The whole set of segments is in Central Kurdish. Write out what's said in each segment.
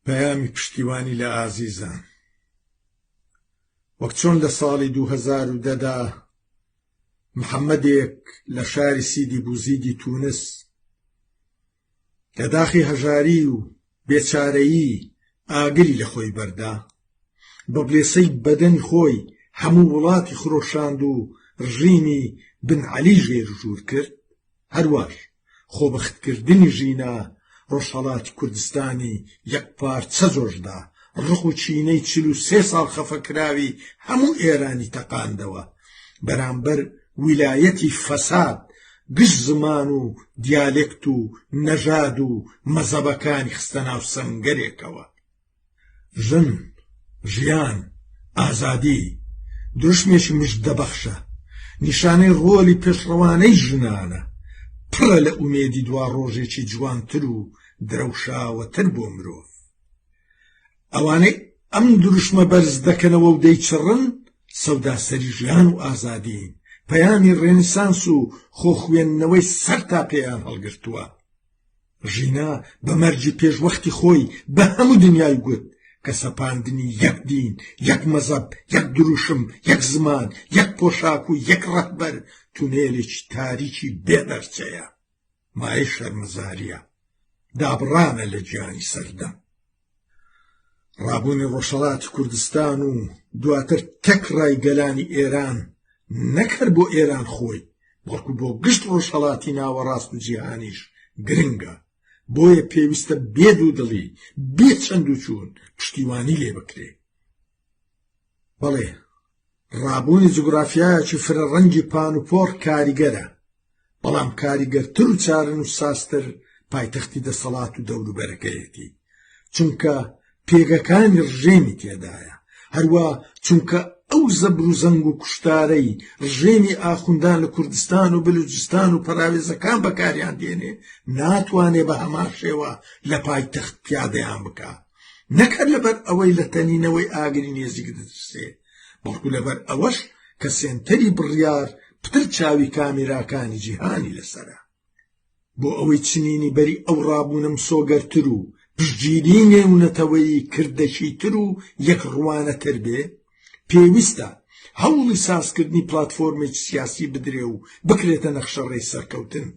پەیامی پشتیوانی لە ئازیزان وەک چۆن لە ساڵی دوو هەزار و دە دا محەممەدێک لە شاری سیدی بوزیدی تونس لە داخی هەژاری و بێچارەیی ئاگری لە خۆی بەردا بە بلێسەی بەدەنی خۆی هەموو وڵاتی خرۆشاند و ڕژیمی بن عەلی ژێر ژوور کرد هەروەش خۆبەختکردنی ژینا ڕۆژهەڵاتی کوردستانی یەکپارچە جۆشدا، ڕق و چینەی چل و سێ ساڵ خەفەکراوی هەموو ئێرانی تەقاندەوە بەرامبەر ویلایەتی فەساد گشت زمان و دیالێکت و نەژاد و مەزەبەکانی خستە ناو سەنگەرێکەوە. ژن، ژیان، ئازادی، دروشمێکی مژدەبەخشە، نیشانەی ڕۆلی پێشڕەوانەی ژنانە، پڕە لە ئومێدی دوا ڕۆژێکی جوانتر و درەوشاوەتر بۆ مرۆڤ. ئەوانەی ئەم دروشمە بەرز دەکەنەوە و دەیچڕن سەوداسەری ژیان و ئازادین، پەیامی ڕێنیسانس و خۆخوێندنەوەی سەر تا پێیان هەڵگرتووە. ژینا بە مەرجی پێش وەختی خۆی بە هەموو دنیای گوت کە سەپاندنی یەک دین یەک مەزەب یەک دروشم یەک زمان یەک پۆشاک و یەک ڕەهبەر تونێلێکی تاریکی بێ دەرچەیە مایەی شەرمەزاریە دابڕانە لە گیانی سەردەم ڕابوونی ڕۆژهەڵات کوردستان و دواتر تەک ڕای گەلانی ئێران نەکرد بۆ ئێران خۆی بەڵکو بۆ گشت ڕۆژهەڵاتی ناوەڕاست و جیهانیش گرنگە بۆیە پێویستە بێ دوو دڵی بێ چەند و چوون پشتیوانی لێ بکرێت بەڵێ ڕابوونی جوگرافیایەکی فرە ڕەنگی پان و پۆڕ کاریگەرە بەڵام کاریگەرتر و چارن و ساستر پایتەختی دەسەڵات و دەوروبەرەکەیەتی چونکە پێگەکانی ڕژێمی تێدایە هەروە چونکە ئەو زەبر و زەنگ و کوشتارەی ڕژێمی ئاخوندان لە کوردستان و بلوجستان و پەراوێزەکان بەکاریان دێنێ ناتوانێ بە هەمان شێوە لە پایتەخت پیادەیان بکە نەک هەر لەبەر ئەوەی لە تەنینەوەی ئاگری نێزیک دەترسێ، بەڵکو لەبەر ئەوەش کە سێنتەری بڕیار پتر چاوی کامێراکانی جیهانی لەسەرە. بۆ ئەوەی چنینی بەری ئەو ڕابوونە مسۆگەرتر و پشتگیری نێونەتەوەیی کردەکیتر و یەکڕوانەتر بێ، پێویستە هەوڵی سازکردنی پلاتفۆرمێکی سیاسی بدرێ و بکرێتە نەخشەڕێی سەرکەوتن.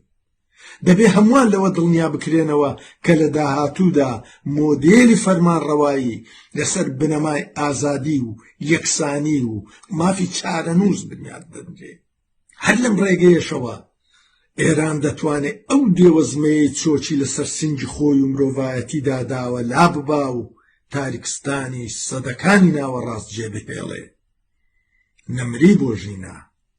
دەبێ هەمووان لەوە دڵنیا بکرێنەوە کە لە داهاتوودا مۆدێلی فەرمانڕەوایی لەسەر بنەمای ئازادی و یەکسانی و مافی چارەنووس بنیات دەنرێ هەر لەم ڕێگەیەشەوە ئێران دەتوانێت ئەو دێوەزمەیە چۆچی لەسەر سنگی خۆی و مرۆڤایەتیدا داوە لا ببا و تاریکستانی سەدەکانی ناوەڕاست جێبهێڵێ نەمری بۆ ژینا